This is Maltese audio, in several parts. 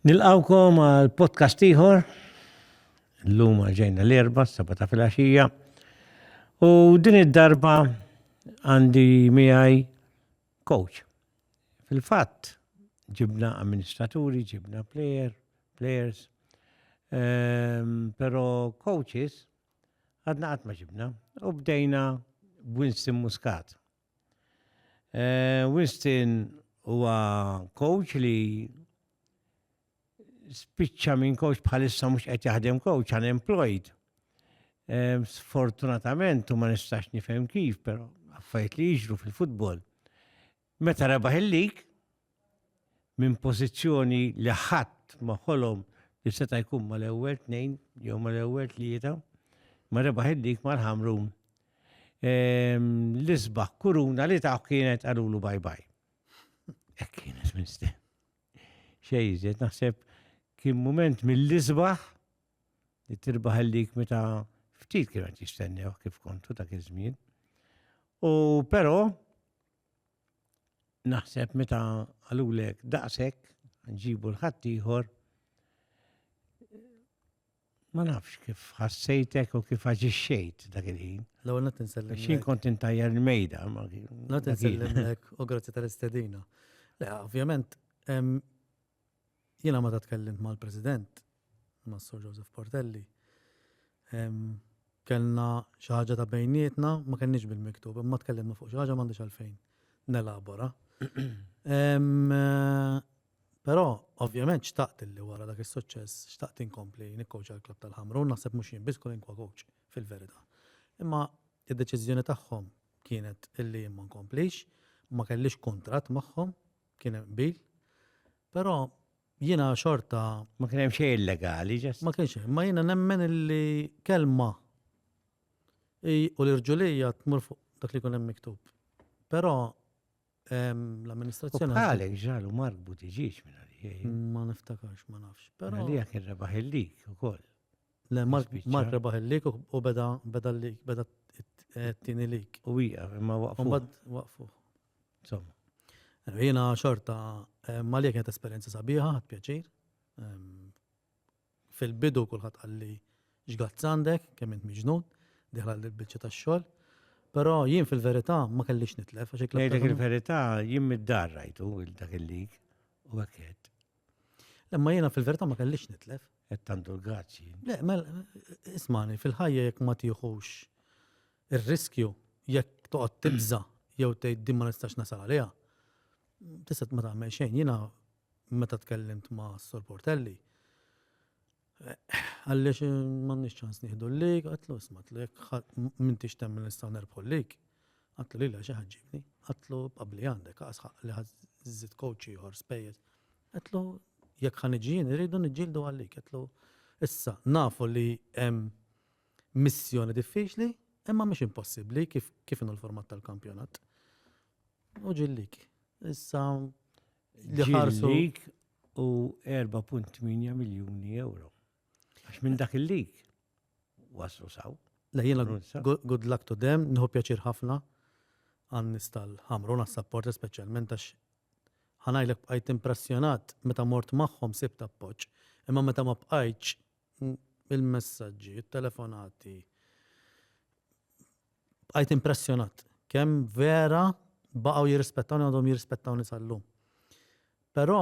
Nilqawkom għal podcast ieħor. Llum ġejna l-erba, s-seba ta' filgħaxija. U din id-darba għandi miegħi coach. Fil-fatt ġibna amministraturi, ġibna player, players, um, pero coaches għadna qatt ma ġibna. U bdejna Winston Muscat. Winston huwa coach li spiċċa minn coach bħalissa mhux qed jaħdem coach unemployed. Sfortunatament u ma nistax nifhem kif, però affajt li jiġru fil-futbol. Meta rebaħ il-lig, minn pożizzjoni li ħadd ma ħolom li seta' jkun mal-ewwel tnejn jew mal-ewwel tlieta, ma rebaħ id-dik mal-Ħamrun. Ehm, l-isbaħ kuruna li taħ kienet għalulu bye bye. Ek kienet minn ste. Xejżet, naħseb kien moment mill-isbaħ li tirbaħ il-dik meta ftit kienet jistennew kif kontu ta' kizmin. U pero, naħseb meta għalulek daqshekk nġibu l-ħadd ieħor ma nafx kif ħassejtek u kif aġixxejt dak il-ħin. L-ewwel qed insellem. Xi kont intajjar il-mejda ma Qed insellem u grazzi tal-istedina. Le, ovvjament Jiena meta tkellimt mal-President, mas-Sur Joseph Portelli, kellna xi ħaġa ta' bejnietna, ma kellniex bil-miktub, imma tkellimna fuq xi ħaġa m'għandix għalfejn nelabora. Però, ovvjament, xtaqt li wara dak is-suċċess, xtaqt inkompli nikkowċa l-klab tal-ħamru, naħseb mhux jien biss kull inkwa kowċ fil-verità. Imma id-deċiżjoni tagħhom kienet illi ma nkomplix, ma kellix kuntratt magħhom, kien hemm qbil. Però jiena xorta. Ma kien hemm xejn illegali, ġest. Ma kienx hemm, ma jiena nemmen li kelma u l-irġulija tmur fuq dak li kun hemm miktub. Però l-amministrazzjoni. Għalek ġalu marbu tiġiġ minn għalija. Ma niftakarx, ma nafx. Però. Għalija kien rebaħ il-lik u koll. Le, Mark rebaħ il-lik u beda beda t-tini lik. U wija, imma waqfu. Waqfu. Insomma. Jiena xorta Malija kienet esperjenza sabiħa, ħadd pjaċir. Fil-bidu kulħadd qalli x'gazz għandek, kemm int miġnun, diħla l-biċċa tax-xogħol. Però jien fil-verità ma kellix nitlef għax ikla. Dak il-verità jien mid-dar rajtu dak il-lig u għakket. Lemma jiena fil-verità ma kellix nitlef. Qed tandu l-gazzi. Le, mel ismani fil-ħajja jekk ma tieħux Ir-riskju jekk toqgħod tibża' jew tgħid din ma nistax nasal għaliha, tista' ma tagħmel xejn. Jiena meta tkellimt ma' Sur Portelli, għaliex m'għandniex ċans nieħdu l-lig, għatlu isma' tlu jekk m'intix temmen nistgħu nerbħu l-lig, għatlu lilha xi ħaġġibni, għatlu qabli għandek għasħaq li ħażżid coach ieħor spejjeż. Għatlu jekk ħaniġi jien irridu niġġieldu għal-lig, għatlu issa nafu li hemm Missjoni diffiċli, imma mhix impossibbli kif kif inhu l-format tal-kampjonat. U ġillik. Issa li ħarsu. Ġillik u 4.8 miljuni euro. Għax minn dak il-lig waslu saw. Lejjena, good luck to them, nħu pjaċir ħafna għan nistal ħamru għas support specialment għax ħanajlek bqajt impressjonat meta mort maħħom sibt appoċ, imma meta ma bqajċ il-messaġġi, it-telefonati. Bqajt impressjonat kemm vera baqgħu jirrispettawni għandhom jirrispettawni sal-lum. Però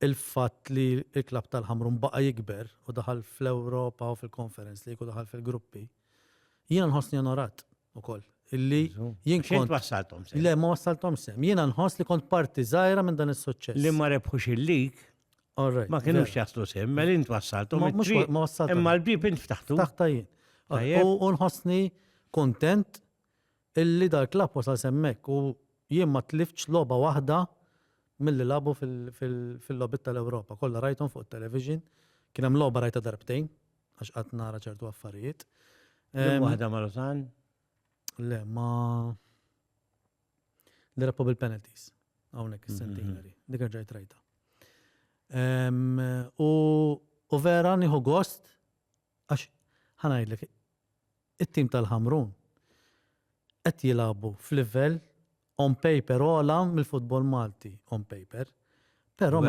il-fatt li l-klab tal-ħamrum baqa jikber u daħal fl-Ewropa u fil-konferenz li jkun daħal fil-gruppi, jiena nħossni onorat ukoll. Illi jien kont wassaltom sem. Le, ma wassaltom sem. Jiena nħoss li kont parti żgħira minn dan is-suċċess. Li ma rebħux il-lig. Ma kienux jaslu sehem, mel int wassaltu. Ma wassaltu. Imma l-bib int ftaħtu. Ftaħta jien. U nħossni kontent illi dal klab wasal semmek u jien ma tlifċ loba waħda mill-li labu fil-lobit tal-Europa. Kolla rajtum fuq television, kienem loba rajta darbtejn, għax għat nara ċertu affarijiet. Waħda ma' Rosan? Le, ma' L-irreparable penalties. Hawnhekk is-centenary. Dik ġajt rajta. U vera nieħu gost għax ħanajdlek it-tim tal-Ħamrun qed jilagħbu f'livell on paper ola mill-futbol Malti on paper. Però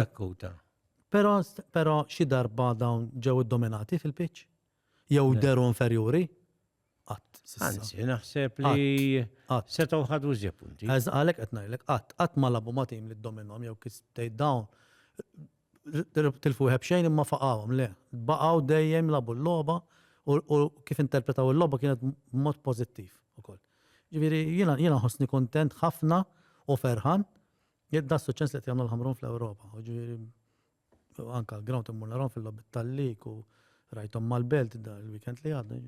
Però però xi darba dawn ġew iddominati fil-pitch jew deru inferjuri. Qatt. Anzi, naħseb li setgħu ħadu ġie punti. Għaż għalhekk qed ngħidlek qatt, qatt ma labu ma' tim li ddominhom jew kif tgħid dawn tilfu wieħed b'xejn imma faqgħuhom le. Baqgħu dejjem labu l-logħba u kif interpretaw il-logħba kienet b'mod pożittiv ukoll. Ġifieri jiena jiena ħossni kuntent ħafna u ferħan jekk da suċċess li qed jagħmlu l-Ħamrun fl-Ewropa. Ġifieri U anka l-ground immur narhom fil-lobby tal-lik u rajthom mal-belt da l-weekend li għadda.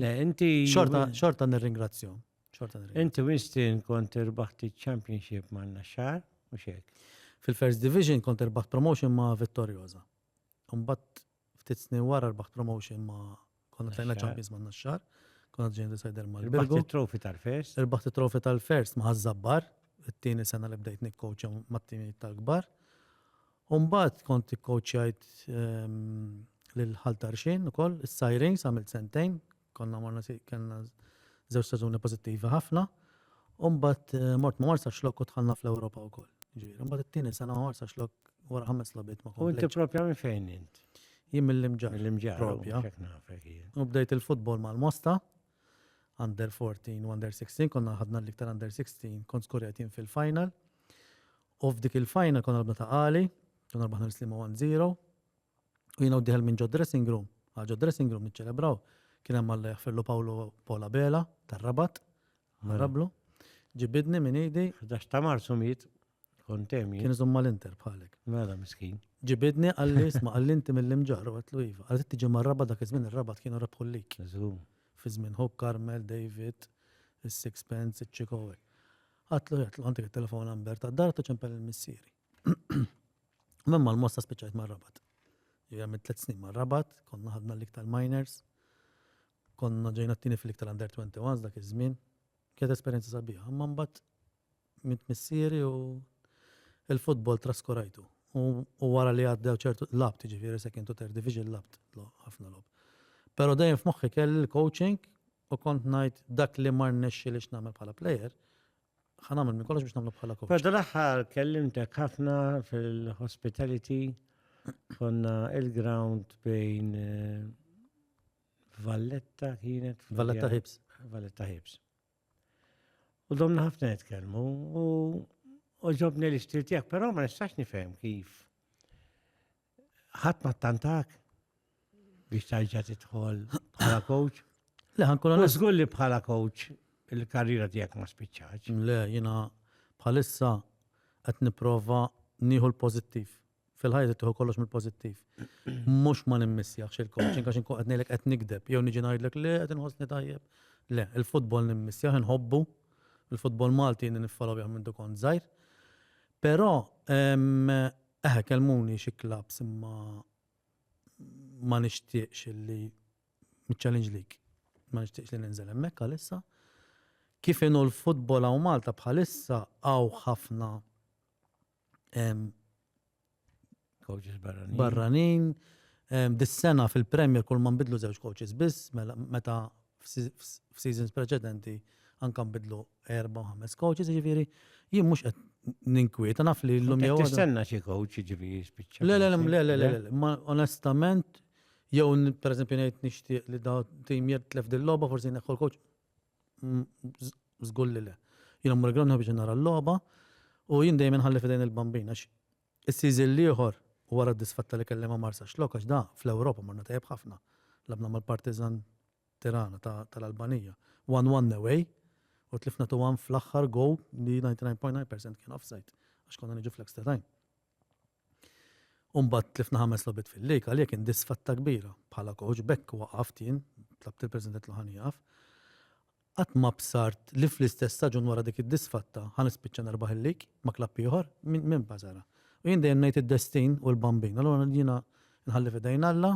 Le, inti. Xorta, xorta nirringrazzjom. Xorta nirringrazzjom. Inti Winston kont irbaħti championship ma' naxxar, u xek. Fil-First Division kont irbaħt promotion ma' Vittorioza. Umbat Ftit snin wara rbaħt promotion ma' konna tajna Champions ma' Naxxar, konna ġejn decider ma' Rbaħt it-trofi tal-first? Rbaħt it-trofi tal-first ma' Ħażabbar, it-tieni sena li bdejt nikkoċja mat-timijiet tal-kbar. U mbagħad kont ikkoċjajt lil Ħal Tarxien ukoll, is-Sirens għamilt sentejn, Konna morna kellna żewġ staġuni pożittivi ħafna. U mbagħad eh, mort ma' Marsa Xlok u dħalna fl-Ewropa wkoll. Ġifieri, mbagħad it-tieni sena ma' Marsa Xlok wara ħames logħbiet ma' U inti propja minn fejn int? Jien mill-imġar. Mill-imġar. Propja. U bdejt il-futbol mal-Mosta, under 14 u under 16, konna ħadna l-iktar under 16, kont skurjat jien fil-final. U f'dik il-final konna l-bna ta' għali, konna l-baħna l-slima 1-0, U jiena u d-dieħel minn ġod-dressing room għal ġod-dressing room niċċelebraw. Kien hemm Alla jaħfirlu Pawlu Paul Abela tar-Rabat, Ħarablu. Ġibidni minn idi. F'dax ta' Marzu miet kont hemm jien. Kien iżomm mal-Inter bħalek. Mela miskin. Ġibidni qalli isma' qalli inti mill-imġarr u għedtlu iva. Qalli tiġi mar-Rabat dak iż-żmien ir-Rabat kienu rebħu l-lig. Żgur. Fi żmien Hope Carmel, David, is-Sixpence, iċ-Ċikowe. Għedtlu għedtlu għandek it-telefon number tad-dar għedtlu ċempel lil missieri. Minn mal-mosta spiċċajt mar-rabat. Ġivja minn tliet snin mar-rabat, konna ħadna l-iktar minors, konna ġejna t-tini fil-iktar under 21 dak iż-żmien. Kienet esperjenza sabiħa, imma mbagħad minn missieri u il-futbol traskurajtu. U wara li għaddew ċertu labt, ġifieri second u third division labt, ħafna lob. Però dejjem f'moħħi kelli l-coaching u kont ngħid dak li mar nexxi li x'nagħmel bħala player, Ħa nagħmel minn kollox biex nagħmlu bħala coach. Però l-aħħar kellimtek ħafna fil-hospitality konna il-ground bejn eh, Valletta kienet. Valletta Hips. Valletta Hips. U domna ħafna nitkellmu u ġobni li xtilt jak, però ma nistax nifhem kif Ħadd ma tantak biex tarġa' tidħol bħala coach. Le ħankun Żgur li bħala coach il-karriera tiegħek ma spiċċax. Le jiena bħalissa qed nipprova nieħu l-pożittiv. Fil-ħajja tieħu kollox mill-pożittiv. Mhux ma nimmissjax il-coaching għax inkun qed ngħidlek qed nikdeb jew niġi ngħidlek le qed inħossni tajjeb. Le, il-futbol nimmissjaħ inħobbu, il-futbol Malti niffollow minn dukon żgħir. Però Eħe kellmuni xi clubs imma ma nixtieqx li challenge lik. Ma nixtieqx li ninżel hemmhekk għalissa. Kif inhu l-futbol hawn Malta bħalissa hawn ħafna coaches barranin. Barranin. Dis-sena fil-Premier kull ma nbidlu żewġ coaches biss mela meta f'seasons preċedenti anke nbidlu erba' u ħames coaches, jiġifieri jien mhux qed ninkwieta naf li llum jew. Tistenna xi coach jiġifieri jispiċċa. Le, le, le, le, le, ma onestament jew pereżempju ngħid nixtieq li da tim jitlef dil-logħba forsi neħħu l-coach żgur li le. Jien mmur ground biex nara l-logħba u jien dejjem inħalli f'idejn il-bambin għax Is-season l-ieħor u wara d-disfatta li kelli ma' Marsaxlokk għax da, fl-Ewropa marna tajjeb ħafna. Lagħbna mal-Partizan Tirana ta' tal-Albanija one one away u tlifna two one fl-aħħar goal li 99.9 percent kien offside għax konna niġu fl-extra time. U mbagħad tlifna ħames logħbiet fil-league għalija kien disfatta kbira bħala coach b'hekk waqaft jien tlabt lill-President Lohan jieqaf. Qatt ma bsart li fl-istess staġun wara dik id-disfatta ħa nispiċċa nerbaħ il-lig ma' klabb ieħor, min basarha. U jien dejjem ngħid id-destin hu l-Bambin. Allura jiena nħalli f'idejn Alla,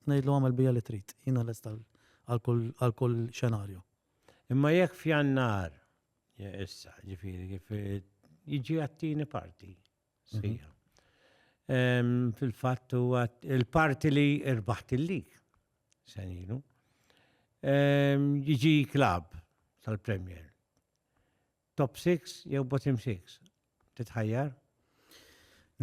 ngħidlu agħmel bija li trid. Jiena lest għal kull xenarju. Imma jekk f'Jannar, issa, ġifieri kif jiġi għat-tieni parti. sħiħa. Fil-fatt huwa il-parti li irbaħt il-lig senilu. Jiġi klab tal-Premier. Top 6 jew bottom 6. Titħajjar?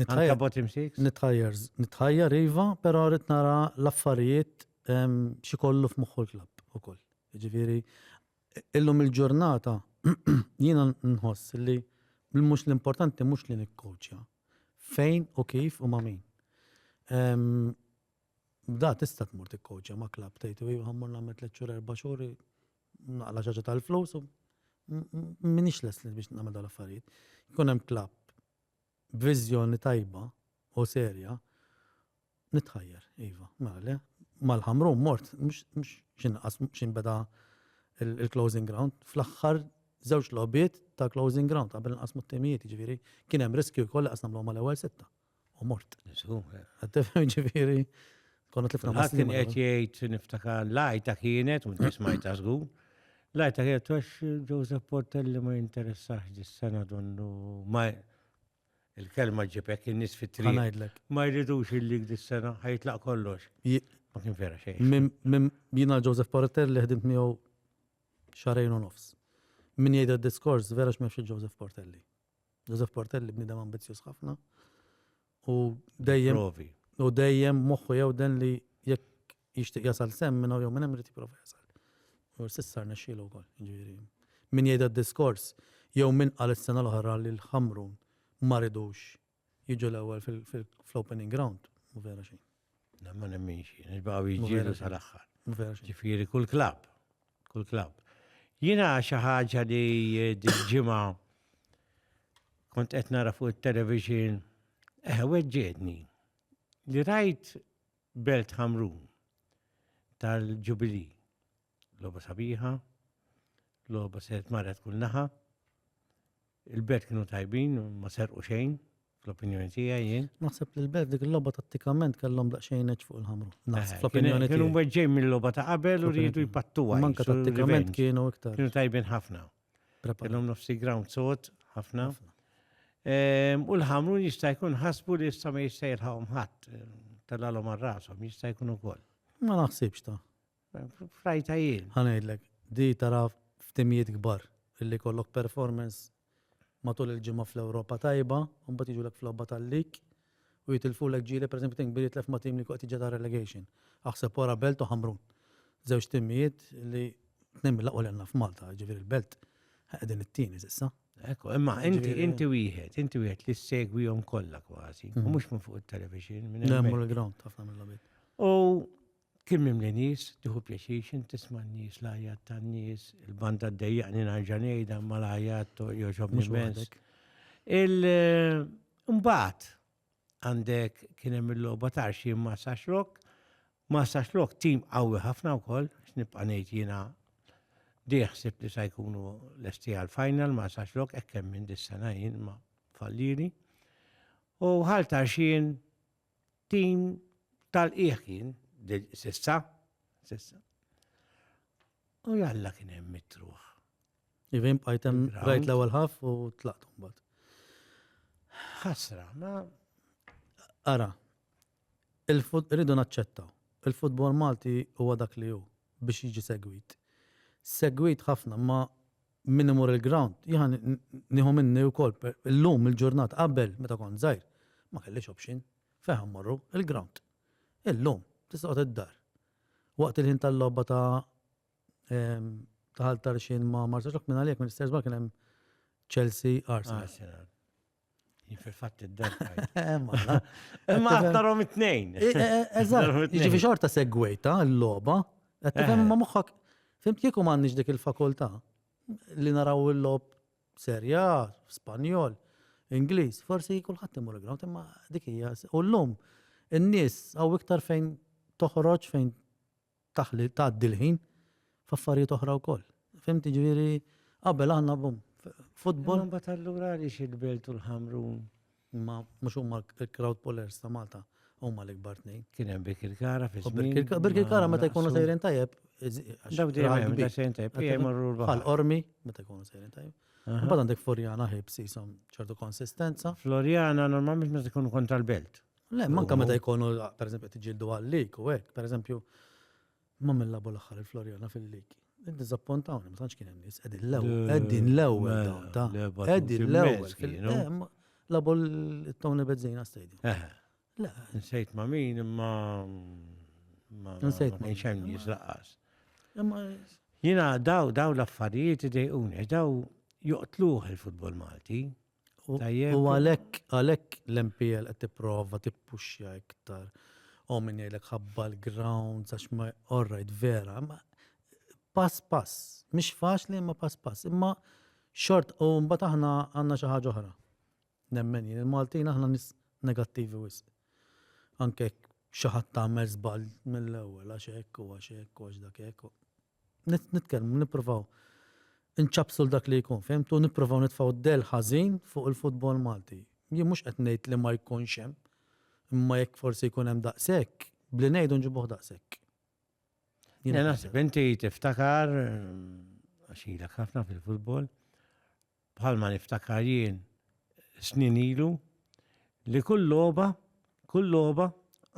Nitħajjar bottom 6? Nitħajjar, nitħajjar iva, però rrid nara l-affarijiet xi kollu f'moħħu l-klab ukoll. Ġifieri Illum il-ġurnata jiena nħoss li mhux l-importanti mhux li nikkowċja. Fejn u kif u ma' min. Da tista' tmur tikkowċja ma' klab tgħid u ħammur nagħmel tliet xhur erba' xhur naqla xaġa tal-flus u minix lesli biex nagħmel dal-affarijiet. Jkun hemm klab B'viżjoni tajba u serja, nitħajjar, iva, mela le. Mal-Ħamrun mort, mhux x'inqas x'inbeda l-closing ground, fl-aħħar żewġ logħbiet ta' closing ground qabel inqasmu t-timijiet, jiġifieri kien hemm riskju wkoll li qas nagħmluhom mal-ewwel sitta u mort. Żgur. Qed tifhem jiġifieri Konna tlifna ma' kien qed jgħid niftakar lajta kienet u nismajta żgur. Lajta kienet għax Joseph Portelli ma jinteressax dis-sena donnu ma il-kelma ġibek in-nies fit-triq. Ma jridux il-lig dis-sena ħajtlaq kollox. Ma kien vera xejn. Jiena Joseph Portelli ħdimt miegħu xarejn u nofs. Min jgħid diskors vera x'mexxi Joseph Portelli. Joseph Portelli bnidem ambizzjuż ħafna. U dejjem. Provi. U dejjem moħħu jew den li jekk jixtieq jasal sem minn jew minn hemm jipprova jasal. U sissar nexxielu wkoll, ġifieri. Min jgħid diskors jew min qal is-sena l-oħra li l-ħamrun ma ridux Jiġu l-ewwel fl-opening round, mhu vera xejn. Le ma nemminx jien, għax baqgħu jiġġieldu sal-aħħar. Mhu vera xejn. Ġifieri kull klabb, kull klabb. Jiena xi ħaġa li dil-ġimgħa kont qed nara fuq it-television, eh weġġietni li rajt Belt Ħamrun tal-Ġubili. Loba sabiħa, loba sert marra tkun naħa, Il-belt kienu tajbin, ma serqu xejn, fl-opinjoni tiegħi jien. Naħseb li l-belt dik il-logħba tat-tikament kellhom daqsxejn eċ fuq il-ħamru. Naħseb fl-opinjoni tiegħi. Kienu weġġej mill-logħba ta' qabel u rridu jpattuha. Manka tat-tikament kienu iktar. Kienu tajbin ħafna. Kellhom nofsi ground sod ħafna. Ehm, u l-ħamru jista' jkun ħasbu li jista' ma jista' jilħaqhom ħadd tal-għalhom għal rashom, jista' jkun ukoll. Ma naħsibx ta' Frajta jien. Ħa ngħidlek, di tara f'timijiet kbar illi jkollok performance matul il-ġimgħa fl-Ewropa tajba u mbagħad jiġulek f'logħba tal-lig u jitilfulek ġieli, pereżempju Tin Kbir jitlef ma' tim li jkun qed jiġi ta' relegation. Aħseb wara Belt u Ħamrun. Żewġ timijiet li tnejn mill-aqwa li għandna f'Malta, jiġifieri l-Belt qegħdin it-tieni s'issa. Ekku, imma inti inti wieħed, inti wieħed li ssegwihom kollha kważi, u mhux minn fuq it-television, minn Le, hemm. mur il-ground ħafna mill-logħbiet. U Kien mimli nies, tieħu pjaċir x'int tisma' n-nies, l-għajjat tan-nies, il-banda ddejjaqni narġa' ngħidha ma l-għajjat jogħġobni immens. Il-mbagħad għandek kien hemm il-logħba tarxi ma' Saxrok, ma' Saxrok tim qawwi ħafna wkoll, x'nibqa' ngħid jiena diħsib li sa jkunu lesti għal-final ma' Saxrok hekk hemm minn dis-sena jien ma' falliri. U ħal tarxin Tim tal-qiegħ jien sissa, sissa. U jalla kien hemm mitruħ. Ivin bqajtem rajt l-ewwel ħaf u tlaqtu mbagħad. Ħasra, ma ara. Il-ridu naċċettaw. Il-futbol Malti huwa dak li hu biex jiġi segwit. Segwit ħafna ma Min imur il-ground, jiena nieħu minni wkoll, illum il-ġurnata, qabel meta kont żgħir, ma kellix option. Fejn ħa mmorru? Il-ground. Illum, tista' toqgħod id-dar. Waqt il-ħin tal-logħba ta' ta' Ħal Tarxien ma' Marsaxlokk minn għalija kien l-istess kien hemm Chelsea Arsenal. Fil-fatt id-dar. Imma għaddarom it-tnejn. Eh, eh, eh, eżatt, ġifi xorta segwejta l-loba, għattifem ma muħħak, fimt kieku mannix dik il-fakulta li naraw il-lob serja, spanjol, Ingliż, forsi kulħadd imur il-ground, imma dik hija. U llum in-nies hawn iktar fejn toħroġ fejn taħli tgħaddi l-ħin f'affarijiet oħra wkoll. Fimt? Jiġifieri qabel aħna bum futbol. Imma mbagħad allura għaliex il-Belt u l-Ħamrun? Imma mhux huma l-crowd pullers ta' Malta huma l-ikbar tnejn. Kien hemm Birkirkara fi żmien. Birkirkara meta jkunu sejrin tajjeb. Daw dejjem da sejrin tajjeb. Bħal ormi meta jkunu sejrin tajjeb. Mbagħad għandek Floriana ħibs jisom ċertu konsistenza. Floriana normalment meta jkunu kontra l-belt. Le, manka meta jkunu, per eżempju, tiġildu għal-lik u hekk, per eżempju, ma minn labu l-aħħar il-Florjana fil-liki. Dizappontawni, ma tantx kien hemm nies, qegħdin l-ewwel, qegħdin l-ewwel dawn ta' qegħdin l-ewwel. Labu l-Tony Bezzina Stadium. Eh. Le. Nsejt ma' min imma nsejt ma' xejn nies laqas. Jina daw daw l-affarijiet idejquni, daw joqtluħ il-futbol Malti. U għalhekk għalhekk l-MPL qed tipprova tippuxja iktar. U min jgħidlek ħabba l-grounds għax ma all right vera, ma pass pass, mhix faċli imma pass pass, imma xort u mbagħad aħna għandna xi ħaġa oħra. Nemmen jien il-Maltin aħna nis negattivi wis. Anke xi ħadd tagħmel żball mill-ewwel għax hekk u għax hekk u għax dak hekk. nitkellmu, nippruvaw inċabsu l-dak li jkun, fimtu, nippruvaw nitfaw del ħażin fuq il-futbol Malti. Jien mhux qed ngħid li ma jkunx hemm, imma jekk forsi jkun hemm daqshekk, bli ngħidu nġibuh daqshekk. Jien naħseb inti tiftakar għax ilek ħafna fil-futbol, bħalma niftakar jien snin ilu, li kull logħba, kull logħba,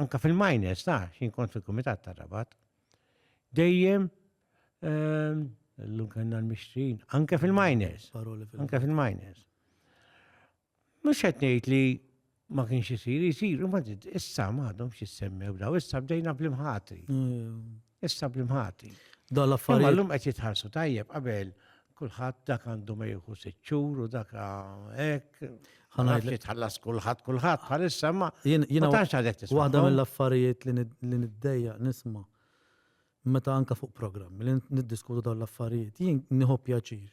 anka fil-miners ta' xin kont fil-Kumitat ta' Rabat, dejjem ehm, l-lum kanna l-mixtrin, anka fil-miners, anka fil-miners. Mux għetnejt li ma kienx isir, isir, ma issa m'għadhom x'issemmew daw, issa bdejna bl-imħati. Mm. Issa bl-imħati. Da l-affarijiet. Imma llum qed jitħarsu tajjeb qabel kulħadd dak għandu ma jieħu siċċur u dak hekk. Ħanajt li tħallas kulħadd kulħadd bħalissa ma. Jien tantx għadek tisma'. Waħda mill-affarijiet li niddejja nisma' meta anka fuq programm li niddiskutu dawn l-affarijiet, jien nieħu pjaċir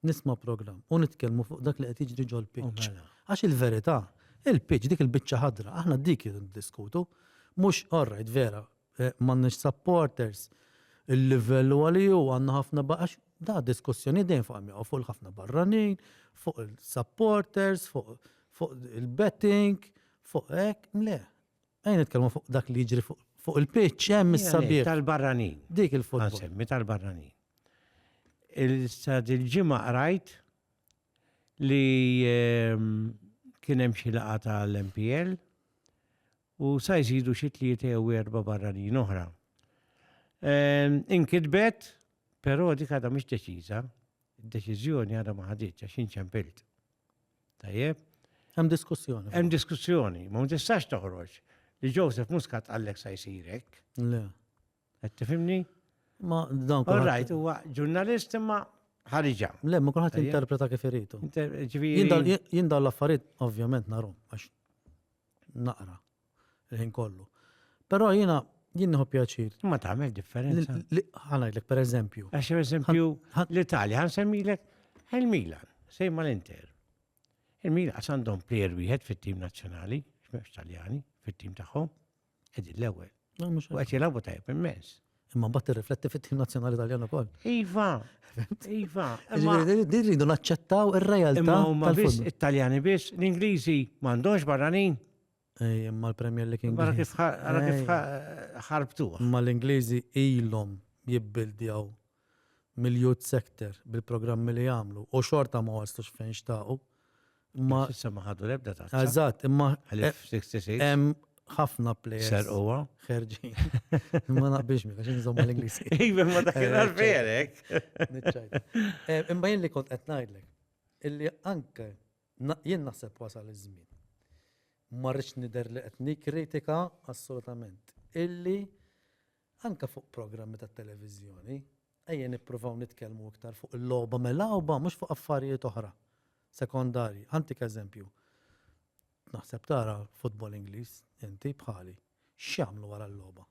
nisma' programm u nitkellmu fuq dak li qed jiġri ġol-pitch. Mela. Għax il-verità, il-pitch dik il-biċċa ħadra, aħna dik idu ndiskutu. Mhux orrajt vera, eh, m'għandniex supporters, il-livell huwa li hu għandna ħafna għax da diskussjoni dejjem fuq hemm fuq il-ħafna barranin, fuq il-supporters, fuq il-betting, fuq hekk, le. Ejja nitkellmu fuq dak li jiġri fuq il-pitch hemm is-sabiħ. Tal-barranin. Dik il-futbol. Semmi tal-barranin. Il-sad il-ġimgħa qrajt li ehm, kien hemm xi laqgħa tal-MPL u sa jżidu xi tlieta jew erba' barranin oħra. Ehm, inkitbet, però dik għadha mhix deċiża, Id-deċiżjoni għadha ma ħaditx għax inċempilt. Tajjeb? Hemm diskussjoni. Hemm diskussjoni, ma tistax toħroġ li Joseph Muscat għallek sa jsirek. Le. Qed tifhimni? Ma dan All right, huwa ġurnalist imma ħariġa. Le, ma kulħadd interpreta kif iridu. Jien l-affarijiet ovvjament narom għax naqra. il-ħin kollu. Però jiena jien nieħu pjaċir. Ma tagħmel differenza. Ħanajdlek pereżempju. Għax pereżempju l-Italja ħan semmilek il-Milan, sejma l-Inter. Il-Milan għax għandhom plejer wieħed fit-tim nazzjonali, x'mhemmx Taljani, fit-tim tagħhom, qegħdin l-ewwel. U qed jilagħbu tajjeb immens. Imma mbagħad tirrifletti fit-tim nazzjonali Taljan ukoll. Iva, iva. Din rridu naċċettaw ir-realtà. Imma huma biss it-Taljani biss, l-Ingliżi m'għandhomx barranin. Imma l-Premier League Ingliż. Mara kif ara kif ħarbtu. Imma l-Ingliżi ilhom jibbildjaw mill-youth sector bil-programmi li jagħmlu u xorta ma waslux fejn xtaqu. Ma issa ma ħadu l-ebda ta' Eżatt, imma hemm ħafna players. Ser huwa. Ħerġi. Ma naqbilx minn għax nżomm l-Ingliż. Iva ma dak il-verek. Imma jien li kont qed ngħidlek illi anke Jien naħseb wasal iż-żmien. Ma rridx nidher li qed nikkritika assolutament illi anke fuq programmi tat-televiżjoni ejja nippruvaw nitkellmu iktar fuq il-logħba milgħuba mhux fuq affarijiet oħra sekondarji. Ħantik eżempju. Naħseb tara futbol Ingliż inti bħali. X'jagħmlu wara l-logħba?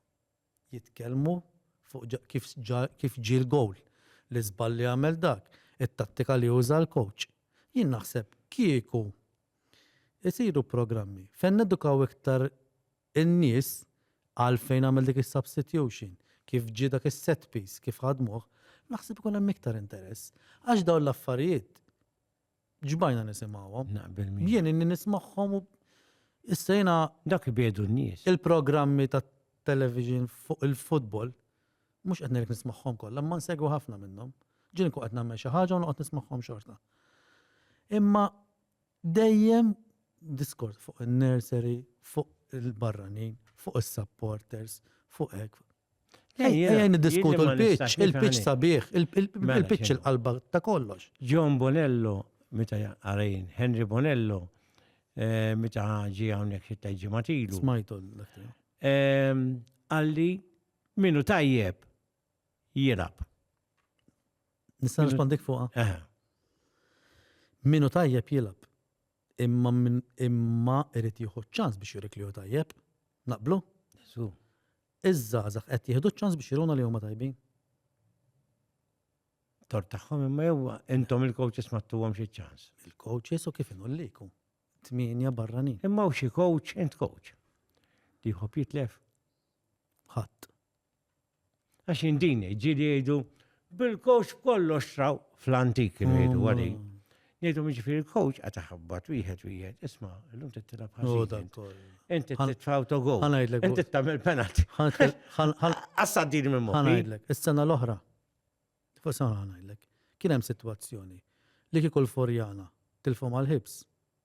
jitkellmu fuq kif kif ġie l-gowl, l-iżball li għamel dak, it-tattika li uża l-coach. Jien naħseb kieku isiru programmi fejn nedukaw iktar in-nies għalfejn għamel dik is-substitution, kif ġie dak is-set piece, kif ħadmuh, naħseb ikun hemm iktar interess. Għax dawn l-affarijiet Ġbajna nisimgħuhom. Naqbel miegħek. Jien inni nismagħhom u issa jiena Dak li biedu n-nies. il-programmi ta' television fuq il-futbol mhux qed ngħidlek nismagħhom kollha, imma nsegwi ħafna minnhom. Ġieli nkun qed nagħmel xi ħaġa u noqgħod nismagħhom xorta. Imma dejjem diskors fuq in-nursery, fuq il-barranin, fuq is-supporters, fuq hekk. Ejja niddiskutu l-pitch, il-pitch sabiħ, il-pitch il-qalba ta' kollox. John Bonello, meta għarajn, Henry Bonello, eh, meta ġi għawnek xitta ġematilu. Smajtu l-aktar. Ehm, għalli, minu tajjeb, jirab. Nistan rispondik fuqa. Minu tajjeb jilab. Imma min imma irid jieħu ċ-ċans biex jurik li hu tajjeb. Naqblu? Żgur. Iż-żgħażagħ qed jieħdu ċ-ċans biex juruna li huma tajbin. Tor tagħhom imma jew intom il-coaches ma tuhom xi ċans. Il-coaches u kif inhu liku. Tmienja barranin. Imma u xi coach int coach. Li jħobb jitlef. Ħadd. Għax jien din ġili jgħidu bil-coach kollox traw fl-antik kienu jgħidu mm. għadi. Jgħidu miġifieri il-coach għad taħabbat wieħed wieħed, isma' llum tittilab ħażin. Inti titfa' autogol. Ħanajdlek. Inti tagħmel penalty. Assa din minn moħħi. Ħanajdlek, is-sena l-oħra. Fuq sena ħanajdlek. Kien hemm sitwazzjoni li kieku l-Forjana tilfhom għal-ħibs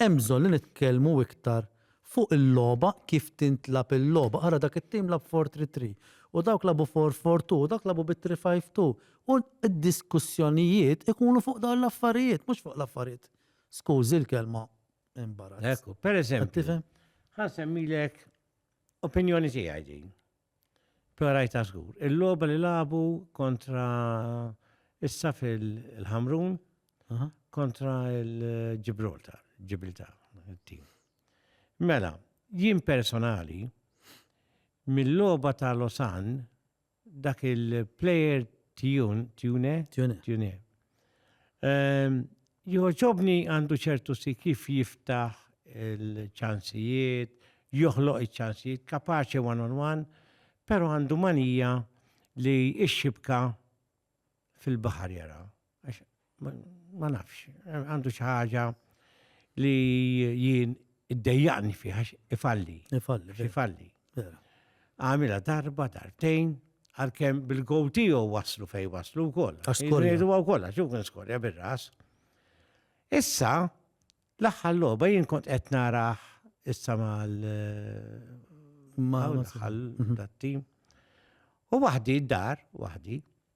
Hemm bżonn li nitkellmu iktar fuq il-logħba kif tintlagħab il-logħba. Ara dak it-tim lagħab four three three u dawk lagħbu four four two u dawk lagħbu bi three five two u d-diskussjonijiet ikunu fuq dawn l-affarijiet mhux fuq l-affarijiet skużi l-kelma imbarazz. Ekku, pereżempju, ħa nsemmilek opinjoni tiegħi din. Però rajtha żgur. Il-logħba li lagħbu kontra issa fil-Ħamrun kontra il-Ġibraltar, Ġibiltar, tim. Mela, jien personali, mill-loba ta' Losan, dak il-player Tjune, Tjune, Tjune, Ehm, Joġobni għandu ċertu si kif jiftaħ il-ċansijiet, joħloq il-ċansijiet, kapaċi one on one, pero għandu manija li ixxibka fil-bahar jara. Ma nafx, għandu xaħġa li jien id-dejjaqni fiħax ifalli. Ifalli. Ifalli. Għamila darba, dartejn, għalkemm bil-gowti u waslu fej waslu wkoll. Askorja. Jridu wkoll għax kien skorja bir-ras. Issa, l-aħħar logħba jien kont qed naraħ issa mal mal-ħal mhm. dat-tim. U waħdi d-dar, waħdi,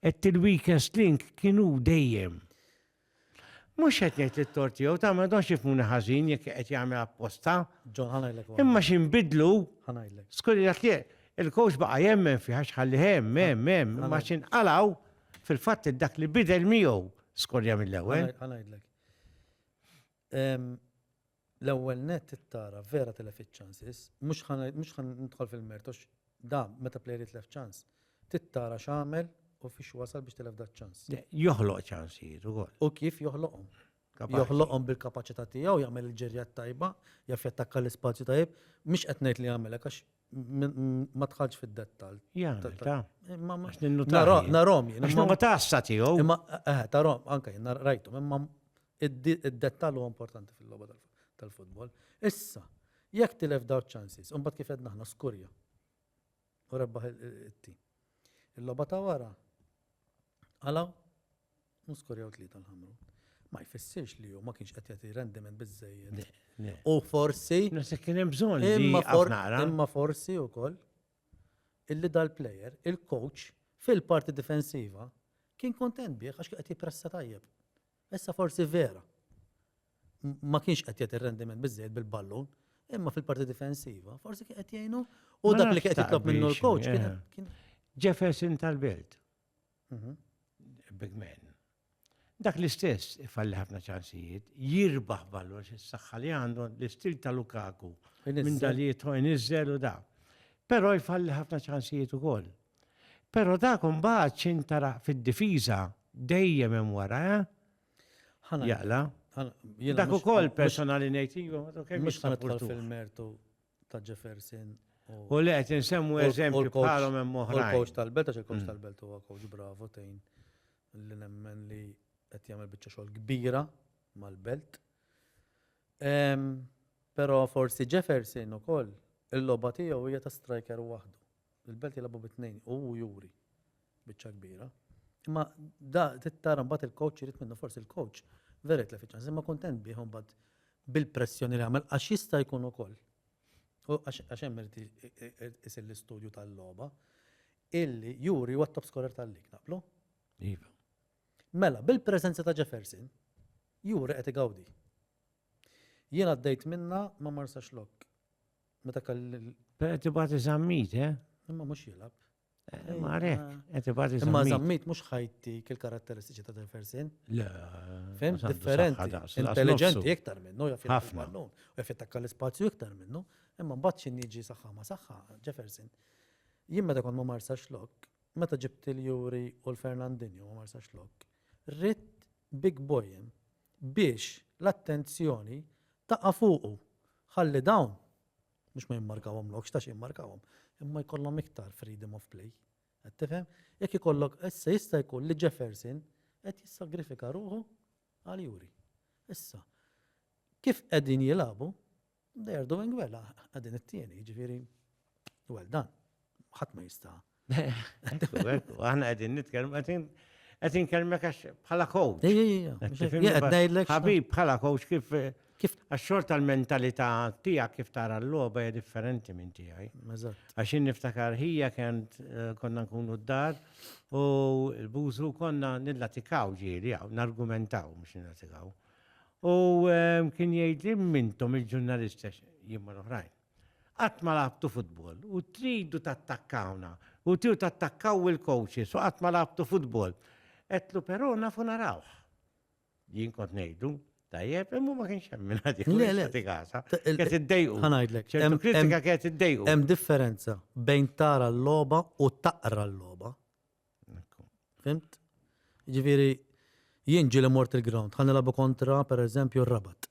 Qed il-weakest link kien hu dejjem. Mhux qed ngħid li t-tort tiegħu ta' ma donx jifmuni ħażin jekk qed jagħmel apposta. John ħanajlek. Imma xi nbidlu? Ħanajlek. Skuri dak li il-coach baqa' jemmen fih għax ħalli hemm hemm hemm imma xi nqalgħu fil-fatt dak li bidel miegħu skorja mill-ewwel. Ħanajlek. L-ewwel nett it-tara vera tilefet chances, mhux ħa mhux ħa nidħol fil-mertu għax da meta player jitlef chance, tittara x'għamel u fiex wasal biex tilef da ċ-chance. Le, Joħloq ċansijiet ukoll. U kif joħloqhom? Kapaċi. Joħloqhom bil-kapaċità tiegħu jagħmel il-ġirja t-tajba, jaf jattakka l-ispazju tajjeb, mhix qed ngħid li jagħmel hekk għax m- m- ma tħallx fid-dettall. Jagħmel ta'. Imma ma- Għax ninnu Nara- taħli. Narahom jien. Għax imma- ma tassa tiegħu. Imma eh, tarahom anke jien nar- rajthom imma Id-dettall huwa importanti fil-logħba tal-futbol. Issa, jekk tilef daw ċansis, imbagħad kif qed naħna skurja u rebbaħ it-tim. Il-logħba ta' wara għalaw u skurjaw tlieta l-ħamru. Ma jfissirx li hu ma kienx qed jagħti rendiment biżejjed. U forsi. Nasa kien hemm bżonn imma forsi wkoll illi dal-player, il-coach fil-parti difensiva kien kontent bih għax qed jippressa tajjeb. Issa forsi vera ma kienx qed jagħti rendiment biżejjed bil-ballun, imma fil-parti difensiva, forsi kien qed jgħinu u dak li kien qed jitlob minnu l-coach kien eh, Jefferson tal-Belt. Mhm. Big man. Dak l-istess ifalli ħafna ċansijiet, jirbaħ ballun xi saħħa li għandu l-istil ta' Lukaku minn dalijiet u nizzel u da. Però jfalli ħafna ċansijiet ukoll. Pero dak imbagħad x'intara fid-difiża dejjem hemm wara, eh? Ħana jaqla. Dak ukoll personali ngħid iva, kemm mhux nidħol fil-mertu ta' Jefferson. U li qed insemmu eżempju bħalhom hemm oħrajn. Il-coach tal-belt għax il-coach mm. tal-belt huwa coach bravo tejn li nemmen li qed jagħmel biċċa xogħol kbira mal-belt. Però forsi Jefferson ukoll il-logħba tiegħu hija ta' striker waħdu. Il-Belt jilagħbu bi tnejn u hu juri biċċa kbira. Imma da tittara mbagħad il-coach irid minnu forsi il-coach vera jitlef iċ-ċans imma kuntent bih mbagħad bil-pressjoni li għamel għax jista' jkun ukoll. Għax hemm irid isir l-istudju tal-logħba illi juri huwa top scorer tal-lig naqblu. Iva. Mela, bil-preżenza ta' Jefferson, juri qed igawdi. Jien għaddejt minna ma marsax lok Meta kelli. Qed ibati żammit, eh? Imma mhux jilab. Eh, ma rek, qed ibati żammit. Imma żammit mhux ħajti kil karatteristiċi ta' Delfersin. Le. Fem, differenti. Intelligenti iktar minnu, jaf ħafna. U jaf jattakka l-ispazju iktar minnu. Imma mbagħad xi niġi saħħa ma saħħa, Jefferson. Jien meta kont ma marsa xlok, meta ġibt il-Juri u l-Fernandinho ma marsa xlok, rrit big boy biex l-attenzjoni taqa' fuqu ħalli dawn mhux ma jimmarkawhomlokx ta' xi jimmarkawhom, imma jkollhom iktar freedom of play. Qed tifhem? Jekk ikollok issa jista' jkun li Jefferson qed jissagrifika ruħu għal Juri. Issa, kif qegħdin jilagħbu, They are doing well, għadin it-tieni, ġifiri, well done. ħadd ma jista. Aħna qegħdin nitkellmu qegħdin qed inkellmek għax bħala coach. Ħabib bħala coach kif eh, kif għax-xort tal-mentalità tiegħek kif tara l-logħba hija differenti minn tiegħi. Għax niftakar ħija kent eh, konna nkunu d-dar u l-bużu konna nillatikaw ġieli hawn nargumentaw mhux nillatikaw. U kien jgħidli mintom il-ġurnalista jien mal-oħrajn. Qatt ma labtu futbol u tridu tattakkawna u tiju tattakkaw il-coaches u qatt ma labtu futbol. Etlu però nafu narawh. Jien kont ngħidu, tajjeb, imma ma kienx hemm minn ħadd Le, le. jagħti gasa. Kienet iddejqu. Ħanajdlek. ċertu hemm- kritika hemm- kienet iddejqu. Hemm differenza bejn tara l-logħba u taqra l-logħba. Fimt? Ġifieri jien ġieli mort il-ground, ħa nilagħbu kontra pereżempju r-Rabat.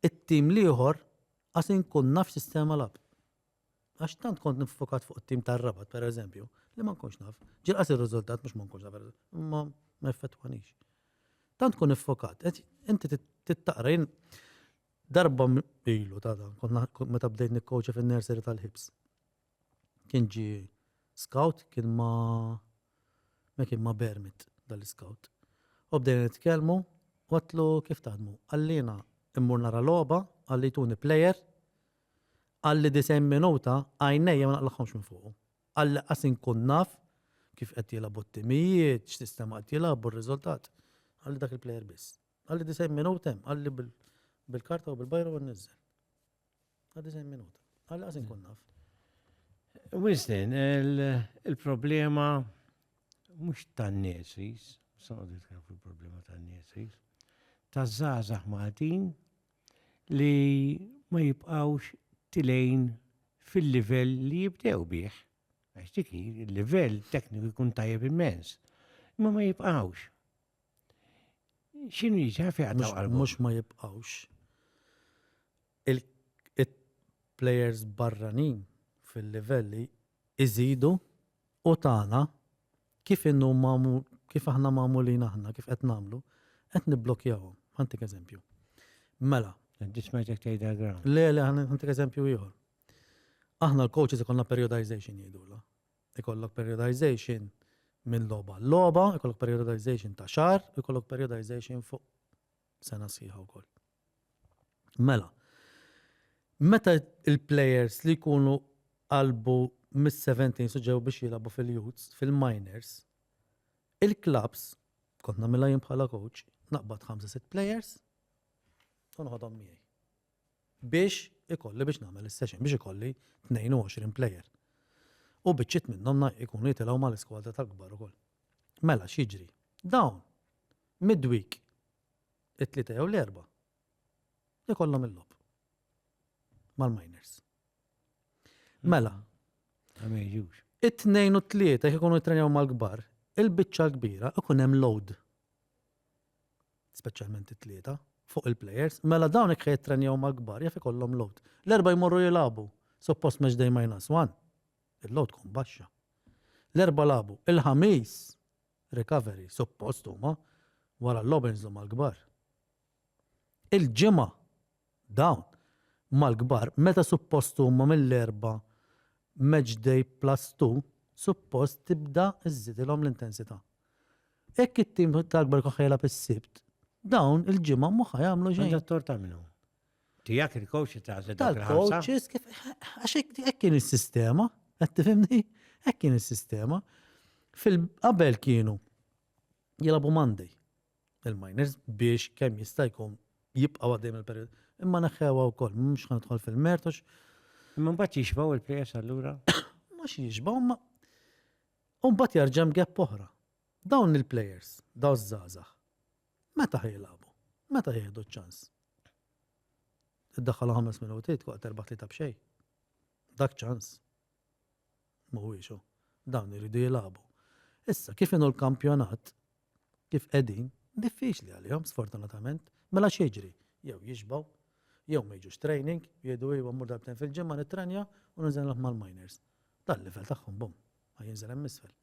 It-tim l-ieħor għas inkun naf sistema lab. Għax tant kont nifokat fuq it-tim tar-Rabat pereżempju, li ma nkunx naf. Ġilqas ir-riżultat mhux ma nkunx naf, ma ma effettwanix. Tant kun nifokat, inti tittaqra jien darba ilu ta' dan, meta bdejt nikkoċa fin-nursery tal-ħibs. Kien ġi scout, kien ma ma kien ma Bermit dal-scout. U bdejna nitkellmu, għatlu kif taħdmu. Għallina immur nara logħba, għalli tuni plejer, għalli disajn minuta għajnejja ma naqlaħħomx minn fuq. Għalli qasin kun naf kif qed jilagħbu t-timijiet, x'sistema qed jilagħbu r-riżultat. Għalli dak il-plejer biss. Għalli disajn minuta hemm, għalli bil-karta u bil-bajra u nniżżel. Għaddi zejn minuta. Għalla għazin kun naf. Wistin, il-problema mux tan-nesis, saqdu jitkellem fuq il-problema tan-nesis, taż-żgħażagħ Maltin li ma jibqgħux tilejn fil-livell li jibdew bih. Għax dik il-livell tekniku jkun tajjeb immens. Imma ma jibqgħux. Xinu jiġi għafi għaddaw għal Mux ma jibqawx il-players barranin fil-livelli iżidu u tagħna kif innu mamu kif aħna magħmulin aħna kif qed nagħmlu qed nibblokjawhom. Ħantik eżempju. Mela. Dismajtek tgħidha ground. Le, le, ħantik eżempju ieħor. Aħna l-coaches ikonna periodization jgħidula. Ikollok periodization minn logħba għal logħba, ikollok periodization ta' xahar, ikollok periodization fuq sena sħiħa wkoll. Mela, meta il-players li jkunu qalbu mis-17 suġġew biex jilabu fil-youths, fil-minors, il-clubs, kont namilha jien bħala coach, naqbad 5-6 players, unħodhom miegħi. biex ikolli biex nagħmel is-session biex ikolli 22 player. U biċċiet minnhom na- ikunu jitilgħu mal-iskwadra tal-kbar ukoll. Mela x'jiġri? Dawn midweek it-tlieta jew l-erba' ikollhom il-lob mal-miners. Mela, Ma meħjux. it-tnejn u t-tlieta jekk ikunu jittrenjaw mal-kbar, il-biċċa l-kbira ikun hemm load. speċjalment it-tlieta, fuq il-plejers, mela dawn hekk ħa jittrenjaw mal-kbar jaf ikollhom load. L-erbgħa jmorru jilagħbu, suppost match day minus one, il-load tkun baxxa. L-erbgħa lagħbu, il-ħamis recovery, suppost huma wara l-logħba jinżlu mal-kbar. il-ġimgħa dawn mal-kbar meta suppost huma mill-Erbgħa Match Day Plus Two suppost tibda żżidilhom l-intensità. Hekk it-tim tal-kbar jkun ħa jilgħab is-Sibt, dawn il-ġimgħa mhu ħa jagħmlu xejn. Għandha t-tort ta' minnu? Tiegħek il-coach tagħżel dak il-ħamsa? Tal-coaches kif għax hekk kien is-sistema, qed tifhimni? Hekk kien is-sistema. Fil-qabel kienu jilagħbu Monday. il-miners biex kemm jista' jkun jibqgħu għaddej mill-perjodu. Imma neħħewha wkoll, mhux ħan nidħol fil-mertu. Imma mbagħad jixbgħu il-players allura? Mhux jixbgħu ma. U mbagħad jerġa' mgepp oħra. Dawn il-players, daw żgħażagħ. Meta ħejlabu? Meta jieħdu ċ-ċans? Iddaħħalha ħames minuti tkoqgħod erba' tlieta b'xejn. Dak ċans. Mhuwiex hu. Dawn iridu jilagħbu. Issa, kif inhu l-kampjonat, kif qegħdin, diffiċli għalihom, sfortunatament. Mela x'jiġri? Jew jixbgħu, jew ma jiġux training, jgħidu iva mmur darbtejn fil-ġimgħa nittrenja u ninżel nilgħab mal-minors. Dal-livell tagħhom bum, ma jinżel hemm isfel.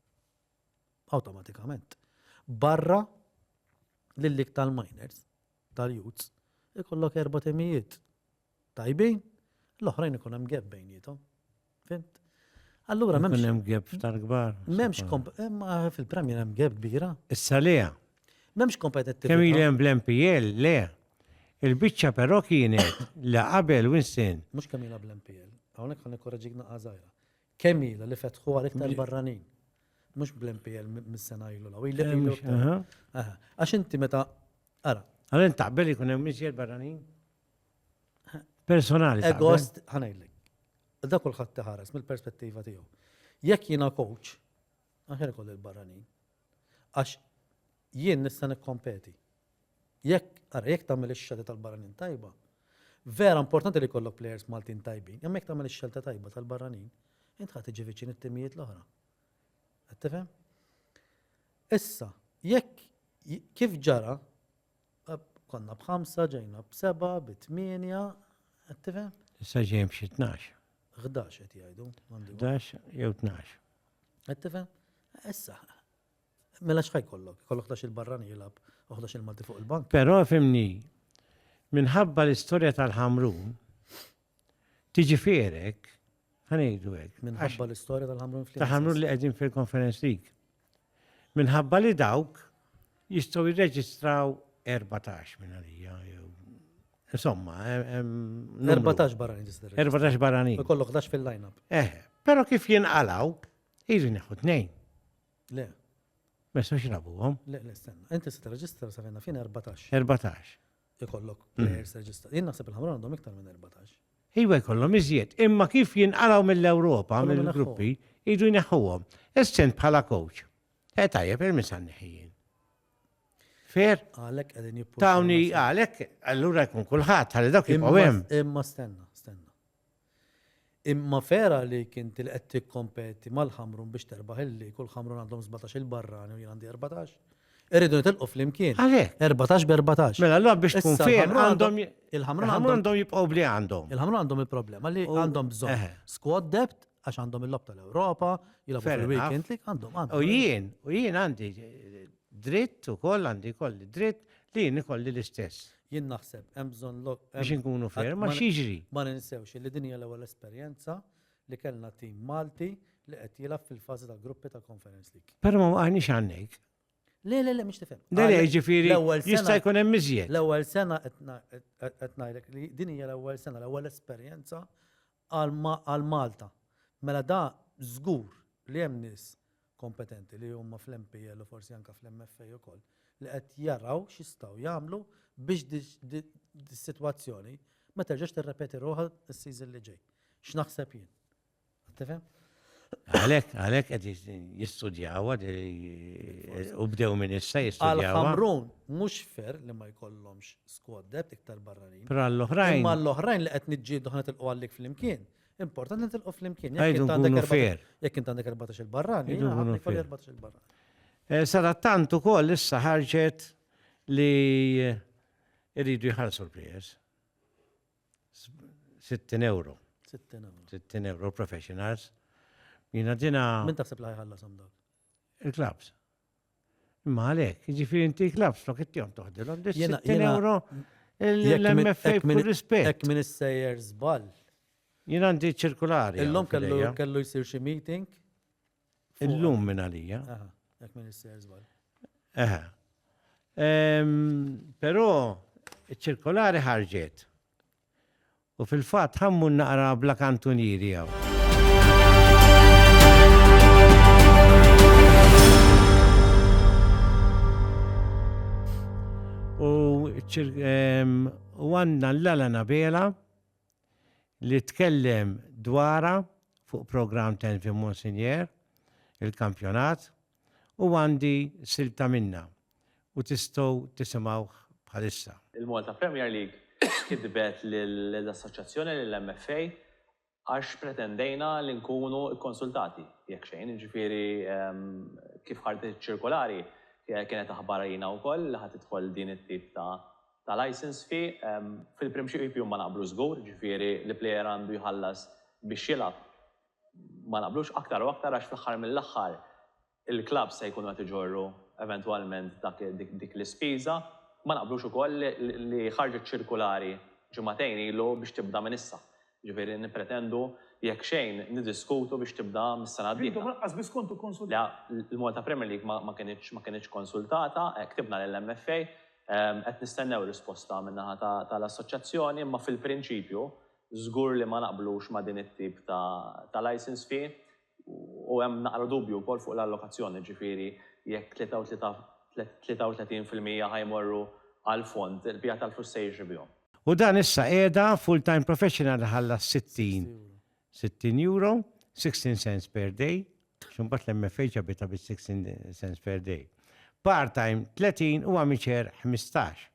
Awtomatikament. Barra lil dik tal-minors, tal-youths, ikollok erba' timijiet tajbin, l-oħrajn ikun hemm gap bejnietom. Fimt? Allura m'hemmx. Ikun hemm gap f'tar kbar. M'hemmx eh, fil-Premier hemm gap kbira. Issa le. M'hemmx kompetittività. Kemm li hemm bl-MPL le. Il-biċċa però kienet la qabel Winston. Mhux kemm ilha bl-MPL. Hawnhekk ħan ikkoraġik naqgħa żgħira. Kemm ilha li fetħu għal iktar barranin. Mhux bl-MPL mis-sena ilu law. Għax inti meta ara. Għal taqbel ikun hemm miżjed barranin? personali. Egost, ħanajlek. Da kulħadd tiħares mill-perspettiva tiegħu. Jekk jiena coach, aħjar koll il-barranin. Għax jien nista' nikkompeti. Jekk, ara, jekk tagħmel ix-xelta tal-barranin tajba, vera importanti li kollok players Maltin tajbin, imma jekk tagħmel ix-xelta tajba tal-barranin, int ħadd tiġi viċin it-timijiet l-oħra. Qed tifhem? Issa, jekk kif ġara Konna b'ħamsa, ġejna b'seba', bi tmienja, qed tifhem? Issa ġejjin b'xi tnax. Ħdax qed jgħidu. Ħdax jew tnax. Qed tifhem? Issa. Mela x'ħaj kollok? Kollok ħdax il-barrani jilgħab u ħdax il-Malti fuq il-bank. Però fimni, minħabba l-istorja tal-ħamrun, Tiġifierek, ħanejdu hekk. Minħabba l-istorja tal-ħamrun fl Tal-ħamrun li qegħdin fil-conference league. Minħabba li dawk jistgħu jirreġistraw 14 minn għalija. Insomma, 14 barani tista' 14 barani. Kollok 11 fil-lineup. Eh, però kif jinqalaw, jiġu neħu tnejn. Le. Mesa xrabuhom? Le, le, stenna. Inti se tirreġistra sa fejna fin 14. 14. ikollok players reġistrati. Jien naħseb il-ħamra għandhom iktar minn 14. Iwa jkollhom iżjed, imma kif jinqalgħu mill-Ewropa, mill-gruppi, idu jneħħuhom. Essent bħala coach. E tajjeb, il-misan neħijin. Fer? Għalek għedin jippu. Tawni għalek, allura jkun kullħat, għalek dak jibqaw Imma stenna, stenna. Imma vera għalik inti li qed tikkompeti mal-Ħamrun biex terbaħ il-lig u l-Ħamrun għandhom sbatax il-barrani u jien għandi erbatax? Irridu nitilqu flimkien. Għalhekk. Erbatax b'erbatax. Mela allura biex tkun fejn għandhom il-Ħamrun għandhom jibqgħu bli għandhom. Il-Ħamrun għandhom il-problema li għandhom bżonn squad depth għax għandhom il-lob tal-Ewropa, jilagħbu fil-weekend li għandhom għandhom. U jien, u jien għandi dritt u koll għandi kolli dritt li jien ikolli l-istess. Jien naħseb, hemm bżonn lok. Biex inkunu ferm, ma xiġri. Ma ninsewx li din hija l-ewwel esperjenza li kellna tim Malti li qed jilgħab fil-fażi ta' gruppi ta' Conference League. Però ma għandix għandek. Le, le, le, mux tifhem. Le, le, ġifiri, jista' jkun hemm iżjed. L-ewwel sena qed ngħidlek li din hija l-ewwel sena, l-ewwel esperjenza għal Malta. Mela da żgur li hemm nies kompetenti li huma fl-MPL u forsi anke fl-MFA ukoll li qed jaraw x'jistgħu jagħmlu biex dis-sitwazzjoni ma terġax tirrepeti ruħha s-season li ġej. X'naħseb jien. Qed tifhem? Għalek, għalek għed jistudjawa, u bdew minn issa jistudjawa. Għal-ħamrun, mux fer li ma jkollomx squad depth iktar barranin. Pero għall-oħrajn. Ma l-oħrajn li għed nġidu ħana tilqu għallik fl-imkien. Important li tilqu fl-imkien. Għajdu għunu fer. Jek int għandek 14 il-barran, jek għandek 14 il-barran. Eh, Sadattant u koll issa ħarġet li rridu jħarsu l-players. 60 euro. 60 euro. 60 euro professionals. Jina dina. Min taħseb li ħajħallasom dawk? Il-klabs. Imma għalek, ġifiri inti klabs, tok it-tijom toħdilom, 60 euro l-MFA kull rispet. Ek minn s-sejjer zbal. Jina għandi ċirkulari. Illum kellu jisir xie meeting Illum minn għalija. Aha, jekk minn is-ser żball. Aha. Però ċirkolari ħarġet. U fil-fatt ħammu naqra bla kantunieri hawn. U għandna l-lala nabela li tkellem dwarha fuq programm Tenvie Monsignor, il-kampjonat, u għandi silta minnha u tistgħu tisimgħuh bħalissa. Il-Malta Premier League kitbet lill-Assoċjazzjoni, lill-MFA, għax pretendejna li nkunu kkonsultati, jekk xejn, jiġifieri kif ħarġet iċ-ċirkolari kienet aħbar għalina wkoll li ħa tidħol din it-tip ta' ta' licence fee, fil-prinċipju ma naqblu żgur, ġifieri li player għandu jħallas biex jilgħab ma naqblux, aktar u aktar għax fl-aħħar mill-aħħar il-clubs se jkunu qed iġorru eventwalment dik l-ispiża, ma naqblux ukoll li ħarġet ċirkulari ġimagħtejn ilu biex tibda minn issa. Jiġifieri nippretendu jekk xejn niddiskutu biex tibda mis-sena d-dieħla. Intom lanqas biss kontu kkonsultati. Le, l-Malta Premier League ma ma kinitx ma kinitx konsultata, ktibna lill-MFA, qed nistennew risposta min-naħa ta' ta' l-assoċjazzjoni, imma fil-prinċipju żgur li ma naqblux ma' din it-tip ta' ta' licence fee, u hemm naqra dubju wkoll fuq l-allokazzjoni, jiġifieri jekk 33 fil-mija ħa jmorru għall-fond, il-bqija tal-flus se jiġri bihom. U dan issa qiegħda full time professional iħallas 60 60 euro, 16 cents per day, għax imbagħad l-MFH jabitha bis-16 cents per day. Part time 30 u amateur 15.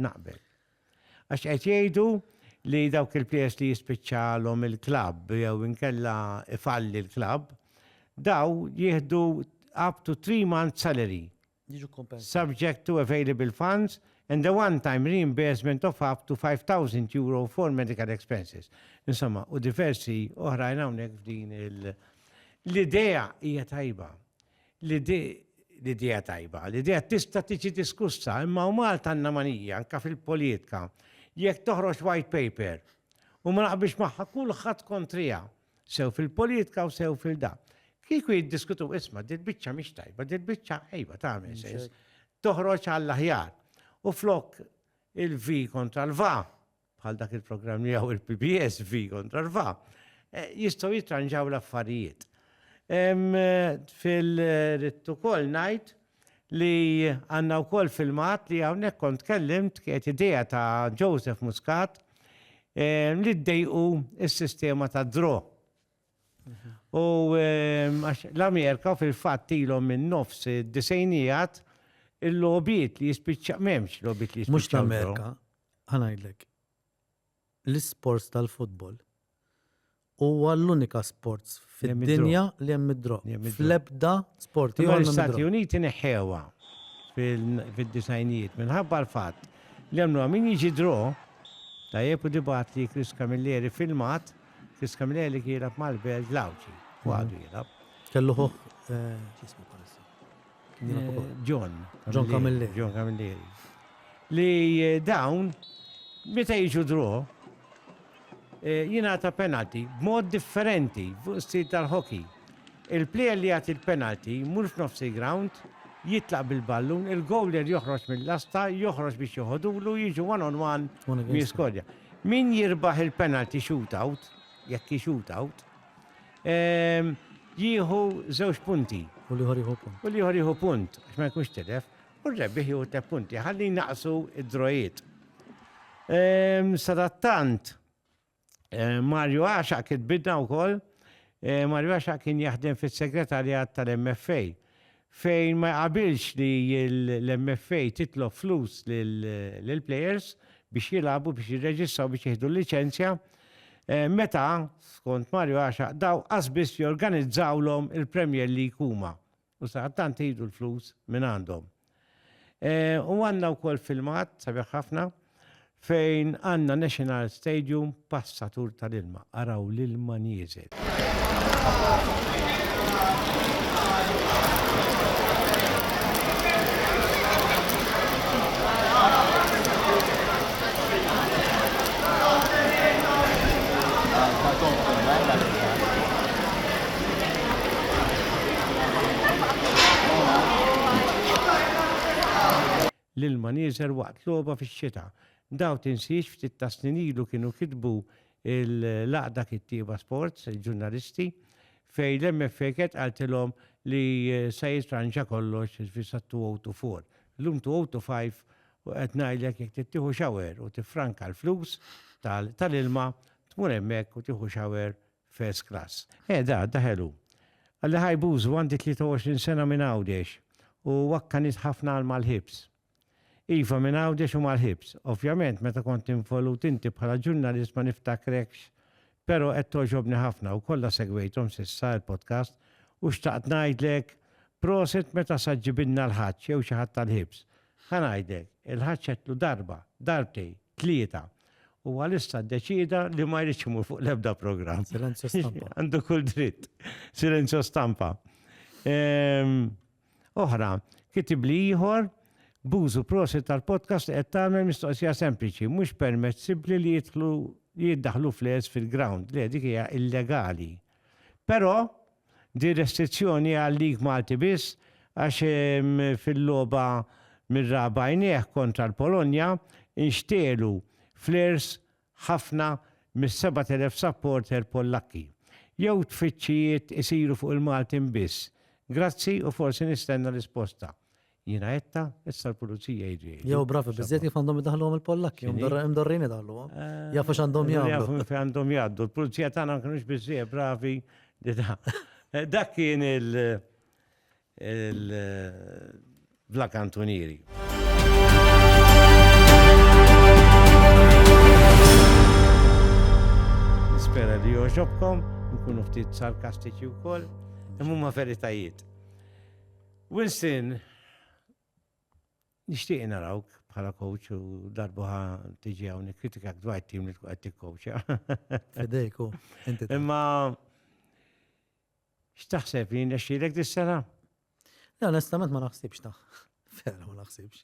Naqbel. Għax qed jgħidu li dawk il-plejers li jispiċċalhom il-klabb jew inkella ifalli l-klabb, daw jieħdu up to three months salary. Subject to available funds and the one-time reimbursement of up to 5,000 euro for medical expenses. Insomma, u diversi oħrajn hawnhekk f'din il- L-idea hija tajba. L-idea tajba, l-idea tista' tiġi diskussa, imma u Malta għandna manija, anke fil-poliitka, li jekk toħroġ white paper u ma naqbilx magħha kulħadd kontriha, sew fil-poliitka u sew fil-da. Kieku jiddiskutu isma' dil-biċċa mhix tajba, dil-biċċa ejba tagħmel sens, toħroġ għall-aħjar. U flok il-vi kontra l-va, bħal dak il-programm li għaw il-PBS fi kontra rfa, eh, jistaw jitranġaw l-affarijiet. Fil-rittu kol najt li għanna u kol filmat li għawnek kont kellimt kiet ideja ta' Joseph Muscat li d-dejqu il-sistema ta' dro. U ehm, għax l-Amerika fil-fatt ilhom minn nofs disejnijat il-lobiet li jispiċċa m'hemmx lobiet li jispiċċa. Mhux l-Amerika, ħanajdlek. L-isports tal-futbol huwa l-unika sports fid-dinja li hemm id-drog. Fl-ebda sport. L-Istati Uniti neħħewa fil-disajnijiet minħabba l-fatt li hemm min jiġi draw tajjeb u dibat li Chris Camilleri filmat Fi Scamilli kien jilgħab mal-Belġ l-Għawdxi, u għadu jilgħab. Kellu ħuh x'jismu bħalissa? John. John Camilleri. John Camilleri. Li eh, dawn meta jiġu dro eh, jingħata penalti b'mod differenti fuq stil tal-hockey. Il-plejer li jagħti l-penalti mhux f'nofsi ground jitlaq bil-ballun, il-gowler joħroġ mill-lasta, joħroġ biex joħodulu, jiġu one on one miskodja. Min jirbaħ il-penalty shootout, jekk hi shootout, jieħu żewġ punti. U l-ieħor jieħu punt. U l-ieħor jieħu punt, għax ma jkunx tilef, u r-rebbieħ jieħu tliet punti, ħalli naqsu id-drojiet. Sadattant, Mario Axa kitbidna wkoll, Mario Axa kien jaħdem fis-segretarjat tal-MFA Fejn ma jqabilx li l-MFA titlob flus lill-players biex jilagħbu, biex jirreġistraw, biex jieħdu l-liċenzja, meta, skont Mario Għaxaq, dawn qasbiss jorganizzawlhom il-Premier League huma u sadattant iħdu l-flus mingħandhom. U għandna wkoll filmat sabiħ ħafna. fejn għandna National Stadium passatur tal-ilma, araw l-ilma nieżel. L-ilma nieżel waqt logħba fix-xita. Daw tinsiex ftit ta' snin ilu kienu kitbu l-għaqda kittieba sports, il-ġurnalisti, fejn l-MFA kienet qaltilhom li se jitranġa kollox fi sa 2024. Llum 2025 u qed ngħidlek jekk trid tieħu shower u tiffranka l-flus tal-ilma tmur hemmhekk u tieħu shower First class. Eh da, da ħelu. Qalli hi Bużu għandi 23 sena minn Għawdex u wakkanit ħafna għal Malħibs. Iva minn Għawdex u Malħibs. Ovvjament meta kont involut inti bħala ġurnalist ma niftakrekx pero qed togħġobni ħafna u kollha segwejthom s'issa il-podcast u xtaqt ngħidlek proset meta sa ġġibilna l-Ħaġġ jew xi ħadd tal-Ħibs. Ħa ngħidlek, il-Ħaġġ għedtlu darba, darbtej, tlieta U għalissa deċida li ma jridx imur fuq l-ebda programm. Silenzju stampa. Għandu kull dritt. Silenzju stampa. Ehm, oħra, kitib li ieħor bużu prosi tal-podcast qed tagħmel mistoqsija sempliċi, mhux permessibbli li jidħlu li jiddaħlu fles fil-ground, li dik hija illegali. Però Din restrizzjoni għal League Malti biss għax fil-logħba mir-raba' għajnejh kontra l-Polonja nxtegħlu flares ħafna mis-7,000 supporter Pollakki. Jew tfittxijiet isiru fuq il-Maltin biss? Grazzi u forsi nistenna risposta. Jiena għetta, issa l-pulizija jġi. Jew bravi, bizzet kif għandhom id-daħlu għom il-Pollak, jom dorrin id-daħlu għom. Eh, Jafu x'għandhom jgħamlu. Jafu fi għandhom jgħaddu, l-pulizija tagħna ma kienux bizzet bravi li da. Eh, dak kien il- il-Black eh, Antonieri. Spera li joġobkom, nkunu ftit sarkastiċi u koll, imma veritajiet. Winston, nixtieq narawk bħala coach u darbuħa tiġi hawn nikkritikak dwar tim li tkun qed tikkowċja. Fidejku, inti. Imma x'taħseb li nexxilek dis-sena? Le, onestament ma naħsibx ta' vera ma naħsibx.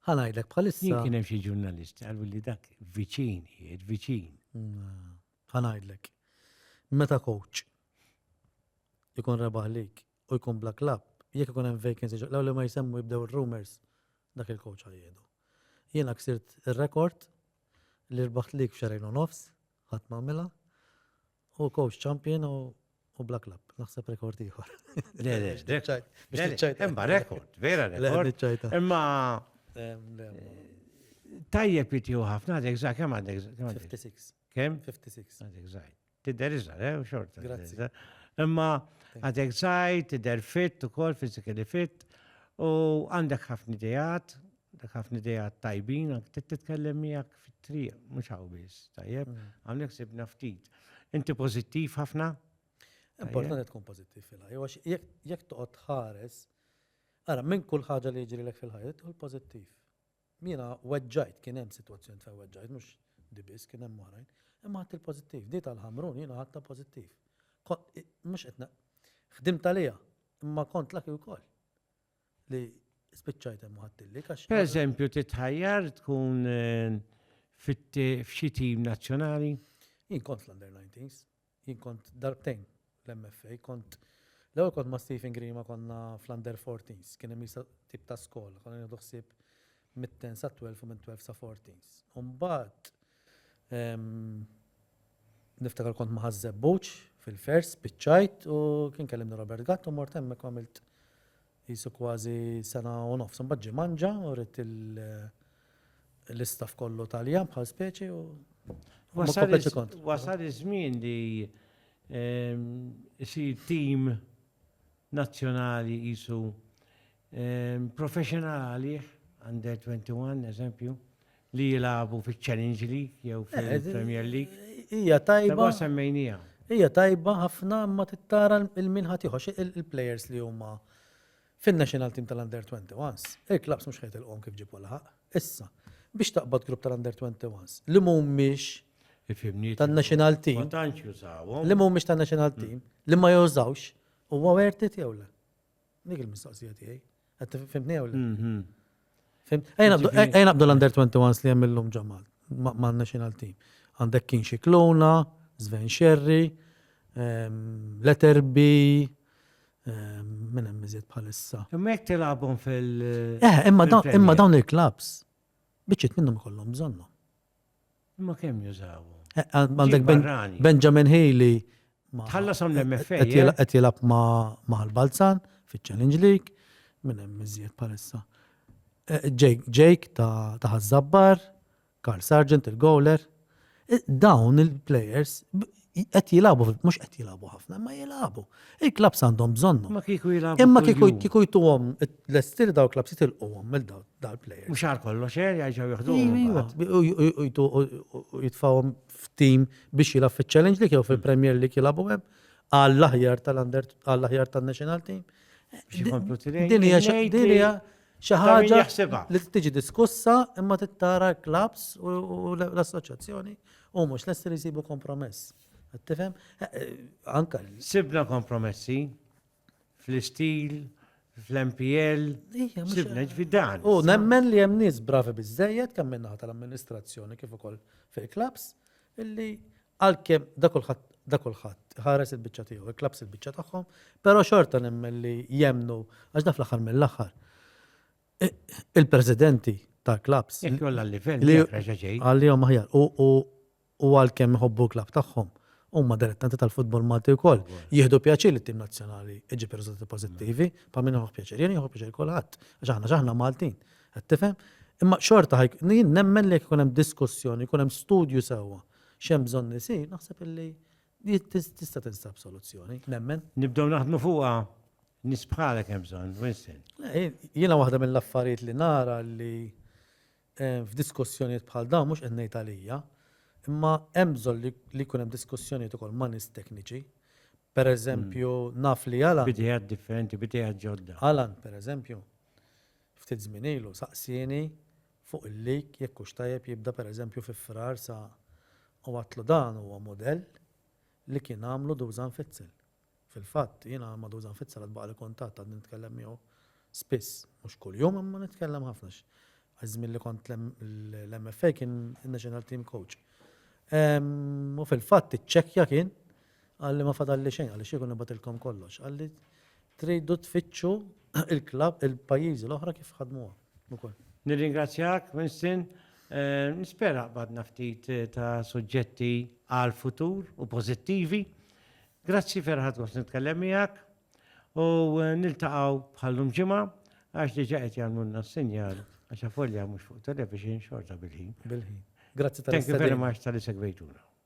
Ħanajdlek bħalissa. Jien kien hemm xi ġurnalist qalu li dak viċin, jiet viċin. Mm, ħanajdlek. Meta coach ikun rebaħlik u jkun bla klabb, jekk ikun hemm vacancy ġo l-ewwel li ma jsemmu jibdew ir-rumours, dak il-coach għal jgħidu. Jiena ksirt ir-rekord li rbaħt league f'xahrejn u nofs, ħadd m'għamilha, u coach champion u u bla klabb, naħseb rekord ieħor. Le, le, le. Imma rekord, vera rekord. Imma tajjeb jitiju ħafna, għadek za' kem għadek? 56. Kem? 56. Għadek zaħi. Tidher iżgħar, eh, xorta. Grazzi. Imma għadek żgħir, tidher fit ukoll physically fit u għandek ħafna idejat, għandek ħafna idejat tajbin, għandek titkellem miegħek fit-triq, mhux hawn biss, tajjeb, mm. għandek sibna ftit. Inti pożittiv ħafna? Importanti tkun pożittiv fil-ħajja, jekk toqgħod tħares, ara minn kull ħaġa li jiġri lek fil-ħajja, tkun pożittiv. Jiena weġġajt, kien hemm sitwazzjonijiet fejn weġġajt, mhux di biss, kien hemm oħrajn, imma ħadt il-pożittiv. Di tal-Ħamrun jiena ħadtha pożittiv. Mhux qed ħdimt għaliha, imma kont laki wkoll li spiċċajt hemm ħadtilli għax. Per eżempju, titħajjar tkun eh, f'xi tim nazzjonali? Jien kont l-under 19s. Jien kont darbtejn l-MFA, kont l-ewwel kont ma' Stephen Grima konna fl-under 14s, kien hemm isa tip ta' skola, konna nieħdu ħsieb mit-ten sa 12 u minn 12 sa 14s. U mbagħad niftakar kont ma' Ħaż-Żebbuġ fil-Fairs, spiċċajt u kien kellimni Robert Gatt u mort hemmhekk u għamilt Qisu kważi sena u nofs. Imbagħad ġie manġa u ridt l-istaff kollu Taljan bħal speċi u ma komplejtx il-kont. Wasal iż-żmien li jsir tim nazzjonali qisu professional għalih, Under 21 eżempju, li jilagħbu fiċ-Challenge League jew fil-Premier League. Hija tajba. semmejnija. Hija tajba ħafna imma tittara il-min ħadd ieħor il-players li huma fin-national team tal-under 21s. Il-klabs mhux ħejt il-qom kif ġibu laħaq. Issa, biex taqbad grupp tal-under 21s li mhumiex tan-national team. Li mhumiex tan-national mm. team li ma jużawx huwa wertit jew le. Dik il-mistoqsija tiegħi. Qed fimtni jew le? Fimt? Ejn abdu l-under 21 li hemm illum ġo mal-national team. Għandek kien xi klona, Sven Sherry, ehm, Letterby, ehm, minn hemm iżjed bħalissa. Imma jekk tilabhom fil- Eh, imma dawn il-klabs biċċiet minnhom ikollhom bżonnhom. Imma kemm jużawhom? Għandek Benjamin Healy. Tħallas għam l-MFA. Qed jilab ma' l-Balzan fiċ-Challenge League, minn hemm iżjed palissa. Jake ta' Ħazzabbar, Carl Sargent il-Gowler. Dawn il-players qed jilagħbu, mhux qed jilagħbu ħafna, imma jilagħbu. Il-klabs għandhom bżonnu. Ma kieku jilagħbu. Imma kieku kieku jtuhom l-estir daw klabs jitilquhom mill daw plejers. Mhux għal kollox er jgħidu jaħduhom. Iva, iva. U jitfawhom f'tim biex jilgħab fiċ-Challenge League jew fil-Premier League jilagħbu hemm għall-aħjar tal-under għall-aħjar tan-national team. Din hija Xi ħaġa li tiġi diskussa imma tittara l-klaps u l-assoċjazzjoni u mhux lesti li jsibu kompromess. Tifhem? Eh, eh, anka. Sibna kompromessi fl-istil, fl-MPL, sibna ġvidan. U nemmen li hemm nies bravi biżejjed kemm minnaħa tal-amministrazzjoni kif ukoll fil-klaps illi Għalkemm da kulħadd da kulħadd iħares il-biċċa tiegħu, il-klabbs il-biċċa tagħhom, però xorta nemmen li jemmnu għax da fl-aħħar mill-aħħar il-presidenti tal-klabbs. Jekk jolla l-livell li għalihom aħjar u għalkemm iħobbu l-klabb tagħhom huma dilettanti tal-futbol Malti wkoll. Jieħdu pjaċir li t-tim nazzjonali iġib riżultati pożittivi, pa' minn joħob pjaċir, jien joħob pjaċir kulħadd, għax aħna aħna Maltin. Qed tifhem? Imma xorta ħajk, nemmen li jkun hemm diskussjoni, jkun hemm studju sewwa. X'hemm bżonn isir, naħseb illi tista' tinstab soluzzjoni, nemmen. Nibdew naħdmu fuqha, nies bħalek hemm bżonn, Winston. Jiena waħda mill-affarijiet li nara li f'diskussjonijiet bħal dawn mhux qed ngħid għalija, imma hemm bżonn li jkun hemm diskussjonijiet ukoll ma' nies tekniċi. Pereżempju, naf li Alan. B'idejat differenti, b'idejat ġodda. Alan, pereżempju, ftit żmien ilu saqsieni fuq il-leak jekk hux tajjeb jibda per eżempju fi Frar sa u għadtlu dan huwa mudell li kien għamlu Dusan Fitzel. Fil-fatt jiena ma' Dusan Fitzel għad baqali kuntatt għadni nitkellem miegħu spiss, mhux kuljum imma nitkellem ħafna għax iż-żmien li kont l-MFA kien in-National Team Coach. U fil-fatt iċċekkja kien Qalli ma fadalli xejn, qalli x'ikun nibgħatilkom kollox. Qalli tridu tfittxu il-klabb il-pajjiżi l-oħra kif ħadmuha ukoll. Nirringrazzjak, Winston. Nispera qbadna ftit ta' suġġetti għall-futur u pożittivi. Grazzi vera ħadt gost nitkellem miegħek u niltaqgħu bħallum ġimgħa għax diġà qed jagħmlulna s-sinjal għax avolja mhux fuq television xorta bil-ħin. Bil-ħin. Grazzi tal-istedina. Thank you very much tal-li segwejtuna.